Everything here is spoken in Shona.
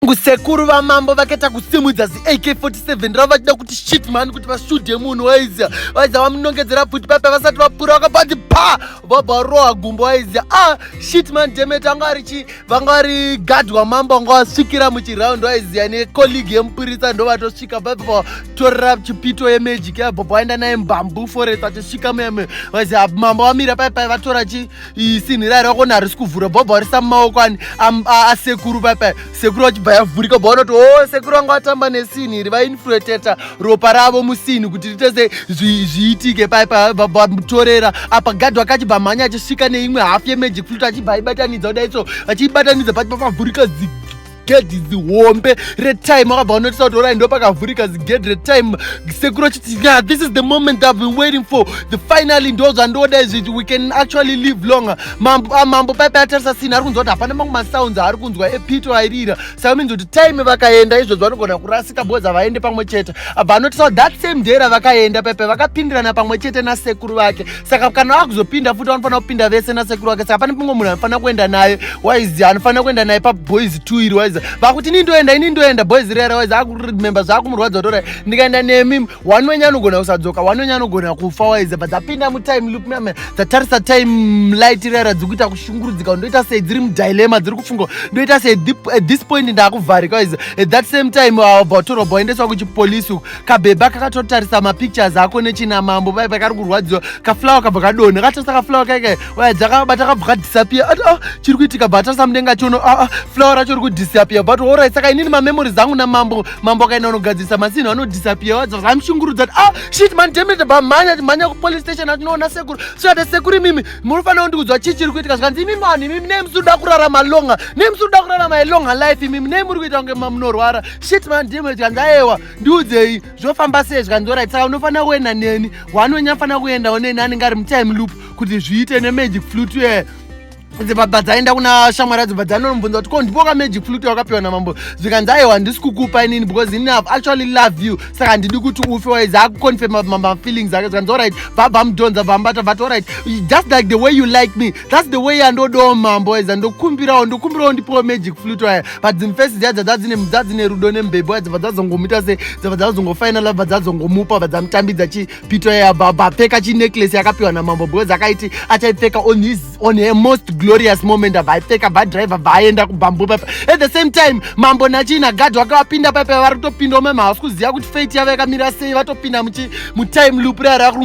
Kusekuru vamambo vakaita kusimudza ziAK47 ravo vachida kuti shit mani kuti vashudhe munhu waizia vaizia vamunongedzera pfuti pape vasati vapura vakabati pa vabva varoha gumbo waizia ah shit mani demet vanga vari chi vanga vari gad wamambo vanga vasvikira muchiraundi waizia necolleague yemupurisa ndovatosvika baba torera chipito yemagic yabva vaenda naye mbambu forest achisvika muyame vaizia mambo vamira paye paye vatora chi isinhi raira kona harisi kuvhura bhobho arisa mumaoko ani asekuru paipai sekuru vachibva yavhurika bva vanoti o oh, sekuru vanga vatamba nesinhi iri vainflueteta ropa ravo musinhi kuti ritese zviitike paipai vamutorera apa gadhi wakachibva mhanya achisvika neimwe hafu yemagic flut achibva aibatanidza kudai so achiibatanidza pachibva pavhurika zigi gedhi zihombe retime akabva anoitisa kuti orai ndo pakavhurika zigedhi retime sekuru achiti yeah, this is the moment i've been waiting for the finally ndo zvandoda izvi we can actually live longer mambo ah, mambo paipai atarisa sini ari kunzwa kuti hapana mamwe masounds aari kunzwa epito airira saka minzi kuti time vakaenda izvozvo vanogona kurasika bhozi havaende pamwe chete abva anoitisa kuti that same day ravakaenda paipai vakapindirana pamwe chete nasekuru vake saka kana vakuzopinda futi vanofanira kupinda vese nasekuru wake saka pane pimwe munhu anofanira kuenda naye waizi anofanira kuenda naye paboys two iri waizi vakuti ini ndoenda ini ndoenda boys rera waizi akurememba zvakumurwadza tora ndikaenda nemi wani wenye anogona kusadzoka wani wenye anogona kufa waizi but dzapinda mutime loop mame dzatarisa time light rera dziri kuita kushungurudzika ndoita sei dziri mudilema dziri kufunga ndoita sei at this point ndakuvharika waizi at that same time vatorwa uh, boendeswa kuchipolisi uku kabhebha kakatotarisa mapictures ako nechinamambo pai pakari kurwadziwa kaflower kabva kadonha katarisa kaflower kaika waya dzakabata kabva kadisappear ati ah chiri kuitika bva atarisa mudenga chono ah, ah flower racho ri kudisappear but orit saka inini mamemory zangu namambo mambo akaenda unogadzirisa masinhu anodisappear wadza zvamushungurudza ati ah shit man demet bva mhanya timhanya kupolice station atinoona sekuru svikati sekuru imimi munofanira kundikudzwa chii chiri kuitika zvikanzi imimi vanhu imimi nei musiri kuda kurarama longa nei musiri kuda kurarama ilonga life imimi nei muri kuita kunge mamunorwara shit man ndimwe zvikanzi ayewa ndiudzei zvofamba sei zvikanzi orit saka unofanira kuenda neni wanonyafanira kuendawo neni anenge ari mutime loop kuti zviite nemagic flute uye dzibaba dzaenda kuna shamwari adzo bvadzanombunza kuti ko ndipo ka magic flute wakapiwa namambo zvikanzi aiwa handisi kukupa inini because ini have actually love you saka handidi kuti ufe waiz akuconfirma mafeelings ake zvikanzi orit bvabva mudhonza bvambata bvat orit just like the way you like me thats the way yandodawo mambo aiza ndokumbirawo ndokumbirawo ndipowo magic flute aya but dzimfesi dziya dzadzine rudo nemubhebho aya dzabva dzazongomuita se dzabva dzazongofainal abva dzazongomupa abva dzamutambidza chipito aya abva abva apfeka chinecklace yakapiwa namambo because akaiti achaipfeka on his on her most glorious moment abva aipfeka abva driver abva aenda kubamboo papa at the same time mambo nachina gadhi wakavapinda papa vari kutopindawo mama havasi kuziva kuti fate yavo yakamira sei vatopinda mutime loop raya